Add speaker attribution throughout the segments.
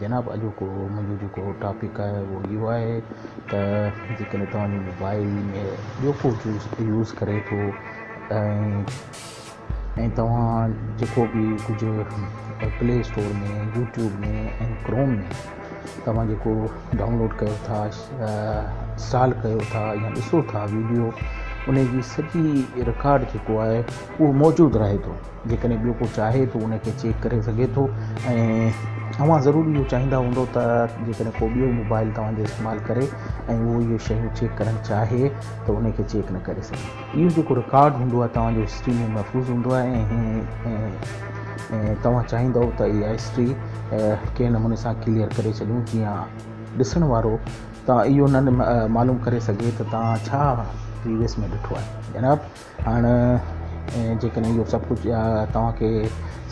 Speaker 1: جناب اڄوڪو منهنجو جيڪو ٽاپڪ آهي اهو اهو آهي ته جيڪڏهن توهان جي موبائل ۾ ٻيو ڪو يوز ڪري ٿو ۽ توهان جيڪو به ڪجهه پلي اسٽور ۾ يوٽيوب ۾ ۽ ڪروم ۾ توهان جيڪو ڊائونلوڊ ڪيو ٿا انسٽال ڪيو ٿا يا ڏسو ٿا ويڊيو ان جي سڄي رڪارڊ جيڪو آهي اهو موجود رهي ٿو جيڪڏهن ٻيو ڪو چاهي ته ان کي چيڪ ڪري سگهي ٿو ۽ اوهان ضرور اهو چاهيندا هوندو ته جيڪڏهن ڪو ٻيو موبائل توهان جو استعمال ڪري ۽ اهو اهي شيون چيڪ ڪرڻ چاهي ته ان کي چيڪ نه ڪري سگهي. اهو جيڪو رڪارڊ هوندو آهي توهان جو هسٽري ۾ محفوظ هوندو آهي ۽ توهان چاهيندؤ ته اها هسٽري ڪنهن نموني سان ڪليئر ڪري ڇڏيون جيئن ڏسڻ وارو توهان اهو نه معلوم ڪري سگهي ته توهان ڇا پريويس ۾ ڏٺو آهي جناب. هاڻ جيڪڏهن اهو سڀ ڪجهه توهان کي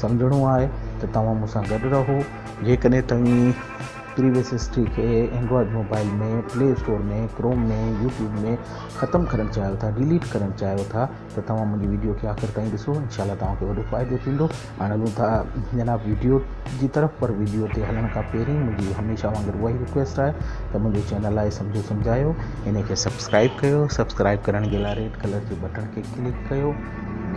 Speaker 1: سمجهڻو آهي ته توهان مون سان گڏ رهو جيڪڏهن توهين پريويس هسٽري کي Android mobile ۾ play store ۾ Chrome ۾ YouTube ۾ ختم ڪرڻ چاهيو ٿا ڊيليٽ ڪرڻ چاهيو ٿا ته توهان منهنجي وڊيو کي آخر تائين ڏسو انشاء الله توهان کي وڏو فائدو ٿيندو هاڻي هلون ٿا جناب ويڊيو جي طرف پر ويڊيو تي هلڻ کان پهرين منهنجي هميشه وانگر اهائي رڪويسٽ آهي ته منهنجو چينل آهي سمجهو سمجهايو ان کي سبسڪرائب ڪيو سبسڪرائب ڪرڻ جي لاء ريڊ ڪلر جي بٽڻ کي ڪلڪ ڪيو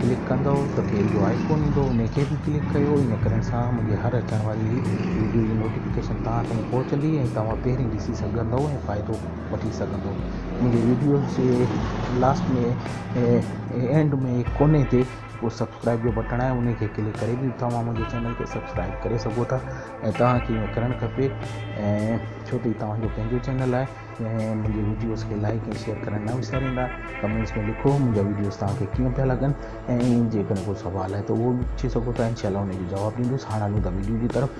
Speaker 1: ڪلڪ ڪندو ته بيل جو آئيڪون ايندو ان کي به ڪلڪ ڪيو ان ڪرڻ سان منهنجي هر اچڻ واري ويڊيو جي نوٽيفڪيشن توهان تائين پهچندي ۽ توهان پهرين ڏسي سگهندو ۽ فائدو وٺي سگهندو منهنجي ويڊيوز جي لاسٽ ۾ اينڊ ۾ ڪوني تي اهو سبسڪرائب جو بٽڻ آهي ان کي ڪلڪ ڪري به توهان منهنجي چينل کي سبسڪرائب ڪري سگهو ٿا ۽ توهان کي ائين ڪرڻ کپي ۽ ڇو ته هي توهان جو پنهنجو چينل آهي ۽ منهنجي ويڊيوز کي لائڪ ۽ شيئر ڪرڻ نه وساريندا ڪمينٽس ۾ لکو منهنجا ويڊيوز توهان کي ڪيئن پيا لڳن ۽ جيڪڏهن ڪو سوال آهي ته اهو به پڇي سگهو ٿا انشاء الله ان جو جواب ڏيندوس هاڻ هلون ٿا ويڊيو جي طرف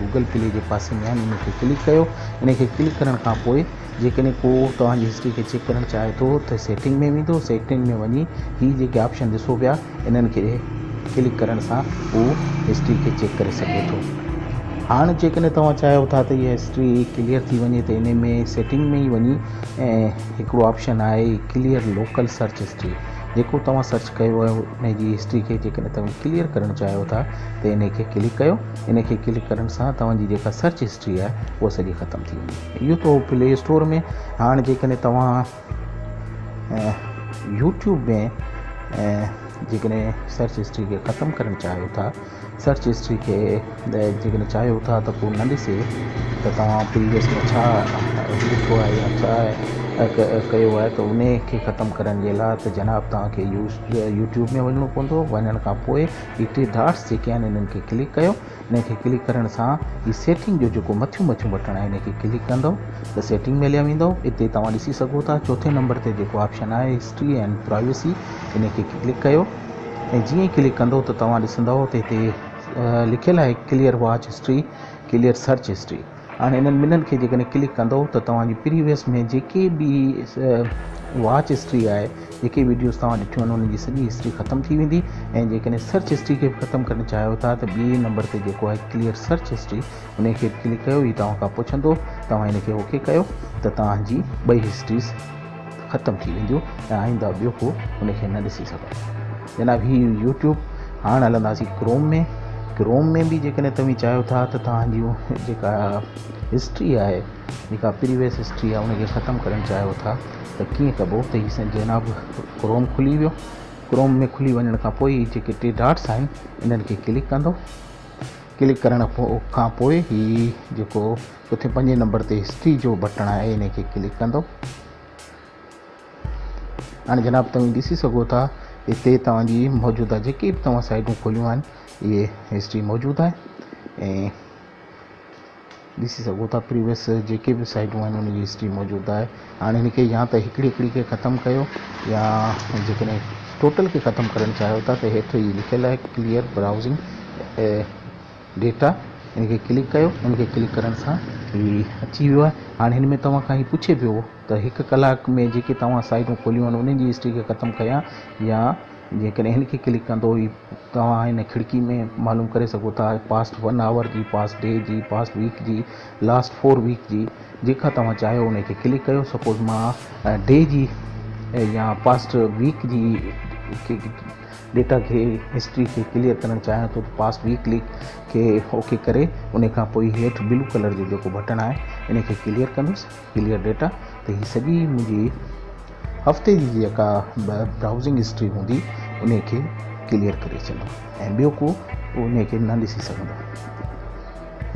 Speaker 1: گوگل پلي جي پاسي ۾ آهن ان کي ڪلڪ ڪيو ان کي ڪلڪ ڪرڻ کان پوء جيڪڏهن ڪو توهان جي هسٽري کي چيڪ ڪرڻ چاهي ٿو ته سيٽنگ ۾ ويندو سيٽنگ ۾ وڃي هي جيڪي آپشن ڏسو پيا انهن کي ڪلڪ ڪرڻ سان هو هسٽري کي چيڪ ڪري سگهي ٿو هاڻ جيڪڏهن توهان چاهيو ٿا ته هي هسٽري ڪليئر ٿي وڃي ته ان ۾ سيٽنگ ۾ ئي وڃي هڪڙو آپشن آهي ڪليئر لوڪل سرچ هسٽري جيڪو توهان سرچ ڪيو آهي ان جي هسٽري کي جيڪڏهن توهان ڪليئر ڪرڻ چاهيو ٿا ته ان کي ڪلڪ ڪيو ان کي ڪلڪ ڪرڻ سان توهان جي جيڪا سرچ هسٽري آهي اها سڄي ختم ٿي ويندي. اهو ته هو پلي اسٽور ۾ هاڻ جيڪڏهن توهان يوٽيوب ۾ جيڪڏهن سرچ هسٽري کي ختم ڪرڻ چاهيو ٿا سرچ هسٽري کي جيڪڏهن چاهيو ٿا ته پوء نه ڏسي ته توهان پريويس ۾ ڇا لکيو آهي يا ڇا ڪيو آهي ته ان کي ختم ڪرڻ جي لاء ته جناب توهان کي يوٽيوب ۾ وڃڻو پوندو وڃڻ کان پوء هي ٽي ڊاٽس جيڪي آهن انهن کي ڪلڪ ڪيو انهن کي ڪلڪ ڪرڻ سان هي سيٽنگ جو جيڪو مٿيون مٿيون بٽڻ آهي انهن کي ڪلڪ ڪندو ته سيٽنگ ملي ويندو اتي توهان ڏسي سگهو ٿا چوٿين نمبر تي جيڪو آپشن آهي هسٽري اينڊ پرائيوسي انهن کي ڪلڪ ڪيو ۽ جيئن ئي ڪلڪ ڪندو ته توهان ڏسندو ته هتي لکيل آهي clear watch history clear search history هاڻي انهن ٻنهن کي جيڪڏهن ڪلڪ ڪندئو ته توهان جي پريويس ۾ جيڪي به واچ هسٽري آهي جيڪي وڊيوز توهان ڏٺيون آهن انهن جي سڄي هسٽري ختم ٿي ويندي ۽ جيڪڏهن سرچ هسٽري کي به ختم ڪرڻ چاهيو ٿا ته ٻئي نمبر تي جيڪو آهي ڪليئر سرچ هسٽري انهي کي به ڪلڪ ڪيو هي توهان کان پڇندو توهان ان کي اوڪي ڪيو ته توهان جي ٻئي هسٽريز ختم ٿي وينديون ۽ آئنده ٻيو ڪو ان کي نه ڏسي سگهندو جناب هي يوٽيوب هاڻ هلنداسين ڪروم ۾ ڪروم ۾ به جيڪڏهن توهين چاهيو ٿا ته توهان جي جيڪا هسٽري آهي جيڪا پريويس هسٽري آهي ان کي ختم ڪرڻ چاهيو ٿا ته ڪيئن ڪبو ته هي جناب ڪروم کلي ويو ڪروم ۾ کلي وڃڻ کان پوء جيڪي ٽي ڊاٽس آهن انهن کي ڪلڪ ڪندو ڪلڪ ڪرڻ کان پوء هي جيڪو اتي پنجين نمبر تي هسٽري جو بٽڻ آهي ان کي ڪلڪ ڪندو هاڻي جناب توهين ڏسي سگهو ٿا اتي توهان جي موجوده جيڪي به توهان سائيڊون کوليون آهن اهي هسٽري موجود آهي ۽ ڏسي سگهو ٿا پريويس جيڪي به سائيڊون آهن ان جي هسٽري موجود آهي هاڻي هن کي يا ته هڪڙي هڪڙي کي ختم ڪيو يا جيڪڏهن ٽوٽل کي ختم ڪرڻ چاهيو ٿا ته هيٺ هي لکيل آهي ڪليئر براؤزنگ ڊيٽا ان کي ڪلڪ ڪيو ان کي ڪلڪ ڪرڻ سان هي اچي ويو آهي هاڻي هن ۾ توهان کان هي پڇي پيو ته هڪ ڪلاڪ ۾ جيڪي توهان سائيٽون کوليون آهن انهن جي هسٽري کي ختم ڪيان يا جيڪڏهن هن کي ڪلڪ ڪندو هي توهان هن کڙڪي ۾ معلوم ڪري سگهو ٿا پاسٽ ون آور جي پاسٽ ڊي جي پاسٽ ويڪ جي لاسٽ فور ويڪ جي جيڪا توهان چاهيو ان کي ڪلڪ ڪيو سپوز مان ڊي جي يا پاسٽ ويڪ جي ڊيٽا کي هسٽري کي ڪليئر ڪرڻ چاهيان ٿو ته پاس وي ڪلڪ کي اوڪي ڪري ان کان پوء هيٺ بلو ڪلر جو جيڪو بٽڻ آهي ان کي ڪليئر ڪندس ڪليئر ڊيٽا ته هي سڄي منهنجي هفتي جي جيڪا به براوزنگ هسٽري هوندي ان کي ڪليئر ڪري ڇڏندو ۽ ٻيو ڪو ان کي نه ڏسي سگهندو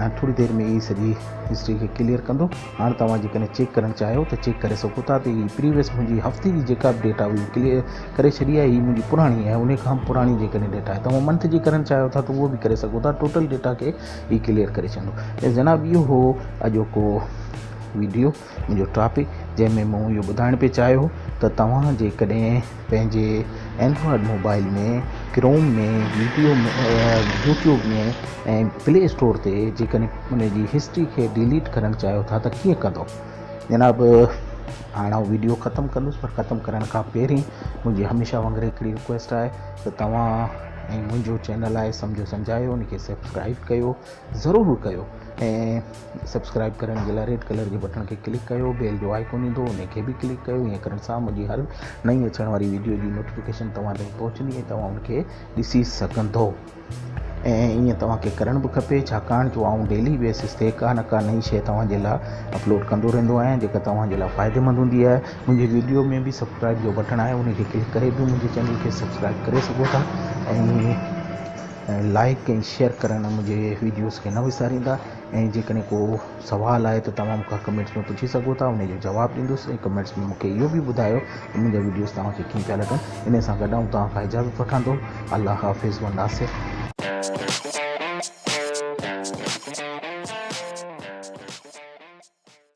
Speaker 1: ۽ ٿوري دير ۾ هي سڄي هسٽري کي ڪليئر ڪندو هاڻ توهان جيڪڏهن چيڪ ڪرڻ چاهيو ته چيڪ ڪري سگهو ٿا ته هي پريويس منهنجي هفتي جي جيڪا به ڊيٽا هئي ڪليئر ڪري ڇڏي آهي هي منهنجي پراڻي ۽ انهي کان به پراڻي جيڪڏهن ڊيٽا آهي توهان منٿ جي ڪرڻ چاهيو ٿا ته اهو به ڪري سگهو ٿا ٽوٽل ڊيٽا کي هي ڪليئر ڪري ڇڏيندو ته جناب اهو هو اڄوڪو ويڊيو منهنجو ٽاپڪ جنهن ۾ مون اهو ٻڌائڻ پئي چاهيو ته توهان جيڪڏهن پنهنجي Android mobile ۾ Chrome ۾ video YouTube ۾ ۽ play store تي جيڪڏهن ان جي هسٽري کي ڊيليٽ ڪرڻ چاهيو ٿا ته ڪيئن ڪندو جناب هاڻ آئون ويڊيو ختم ڪندس پر ختم ڪرڻ کان پهرين منهنجي هميشه وانگر هڪڙي رڪويسٽ آهي ته توهان ۽ منهنجو چينل آهي سمجهو سمجهايو ان کي سبسڪرائب ڪيو ضرور ڪيو ۽ سبسڪرائب ڪرڻ جي لاء ريڊ ڪلر جي بٽڻ کي ڪلڪ ڪيو بيل جو آئيڪون ايندو انهي کي به ڪلڪ ڪيو ايئن ڪرڻ سان منهنجي هر نئين اچڻ واري ويڊيو جي نوٽيفڪيشن توهان تائين پهچندي ۽ توهان ان کي ڏسي سگهندو ۽ ايئن توهان کي ڪرڻ به کپي ڇاڪاڻ جو آئون ڊيلي بيسس تي ڪا نه ڪا نئين شئي توهان جي لاء اپلوڊ ڪندو رهندو آهيان جيڪا توهان جي لاء فائديمند هوندي آهي منهنجي ويڊيو ۾ به سبسڪرائب جو بٽڻ آهي انهي کي ڪلڪ ڪري به منهنجي چينل کي سبسڪرائب ڪري سگهو ٿا ۽ لائڪ ۽ شيئر ڪرڻ منهنجي ويڊيوز کي نه وساريندا ۽ جيڪڏهن ڪو سوال آهي ته توهان مون کان ڪمينٽس ۾ پڇي سگهو ٿا انهي جو جواب ڏيندس ۽ ڪمينٽس ۾ مون کي اهو به ٻڌايو ته منهنجا وڊيوز توهان کي ڪيئن پيا لڳن انهي سان گڏ آئون توهان کان اجازت وٺان ٿو الله حافظ وناسر.